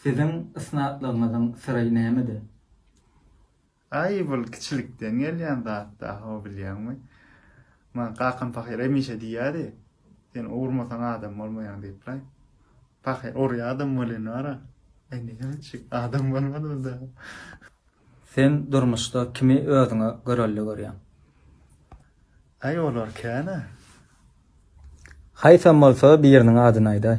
Siziň ysnatlygyňyzyň syry nämede? Aý, bul kiçilikden gelýän zat daho, bilýäňmi? Maňa kakam pahyr hemişe diýýärdi, Sen urmasaň adam bolmaýaň diýip-laý. Pahyr urýardam welin bar-a, indi niçik adam bolmadym daho. Sen durmuşda kimi özüňe görelde görýäň? Aý, olar kän-ä. Haýsam bolsa biriniň adyny aýdaý.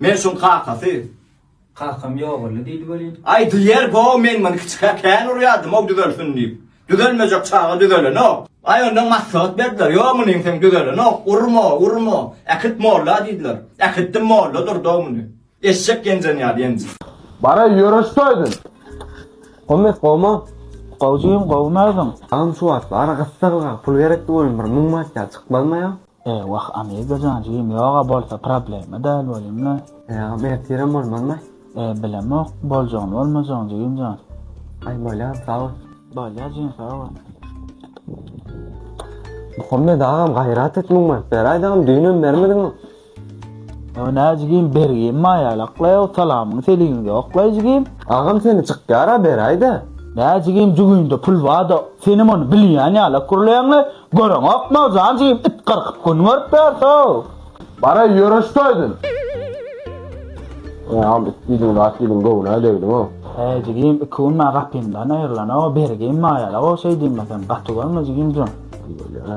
Men şuň kakasy. Kakam ýogaldy, diýdi welin. Aýdylýar, Bo-ow, men muny kiçikä kän urýardym-ow düzelsin diýip. Düzelmejek çaga düzelenok. Aý, ondan maslahat berdiler, Ýok, munyň seň düzelenok, urma, urma. Äkit molla diýdiler. Äkitdim, molla durdy-ow muny. Eşek ýenjen ýaly ýenjdi. Bara ýöreşseýdiň. Hommet gowumy? Gowy jigim, gowy näziň? Agam şu wagt ara gyssaglyga pul gerekdi welin bir müň manat ýaly çykmazmaýa. Eý wah Amigajan jigim ýoga bolsa problema däl welin. Agam ertirem bolmazmy. Eý bilemok boljagyny bolmajagyny jigimjan. Aý bolýar sag bol. Bolýar jigim sag bol. Muhammet agam gaýrat et muň berip beräýdi agam düýnem bermediňow. Ýa nä jigim bergim maýalaklaý ow salamyň seliming ýoklaý jigim. Agam seni çykýara beräýdä. Nä jigim jübüňde pul barda senem ony bilýän ýalak gürleýäňle Göreňokmy, jan jigim, it gyrkyp gün görüp berse-ow! Bar-aý, ýöre şu toýdan! Ýam, it diýdiň zat diýdiň, göwün-ä degdiň-ow! Häý, jigim, iki gün maňa gapymdan aýrylan-ow, bergim maýaly-ow, şeý diýmesem, gaty görme, jigim jan! Diýeli-ä.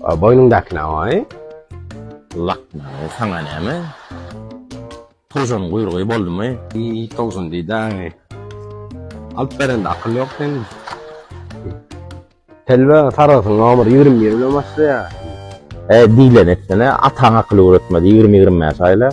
A boýnuňdaky näwaý? Lakmaň saňa näme? Towşanyň guýrugy boldumy? Iý, towşan diýdäň-eý. Alyp berende akyl ýok seniň. Telbe sargysyň nomer ýigrimi bir bilen başlaýar. E, diýlen etsene, ataň akyl öwretmedi ýigrimi-ýigrimi bäş aýla.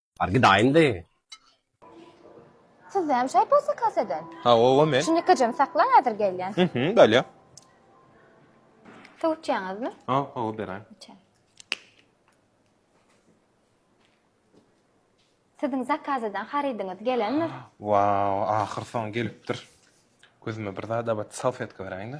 Bar gidaýynda. Siz näme şaý bolsa kasadan? Ha, owa men. Şuny kajam sakla häzir gelýän. Mhm, bolýa. Suw içýäňizmi? Ha, owa beraý. Içen. Siziň zakazadan harydyňyz gelendir? Wow, ahyr soň gelipdir. Gözüme bir zada bat, salfetka beräýiňda.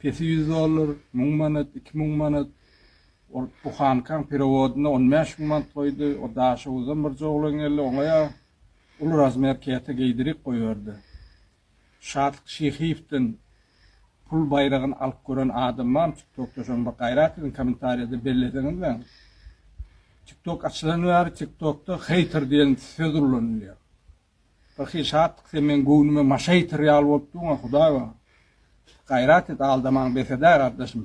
Pesi ýüz dollar, müň manat, iki müň manat. Ol buhankaň perewodyna on bäş müň manat goýdy. O Daşoguzdan birje oglan geldi, oňa-a uly razmer käte geýdirip goýberdi. Şatlyk Şyhyýewden pul baýragyny alyp gören adam barmy TikTokda şony bir gaýrat ediň kommentariýada belleseňizleň. TikTok açylan bäri TikTokda heýter diýen söz ullanylýar. Birhili şatlyk sen meň göwnüme maşa ýeter ýaly bolup durňa hudaý bar. Gaýrat et aldamaň bes edä gardaşym.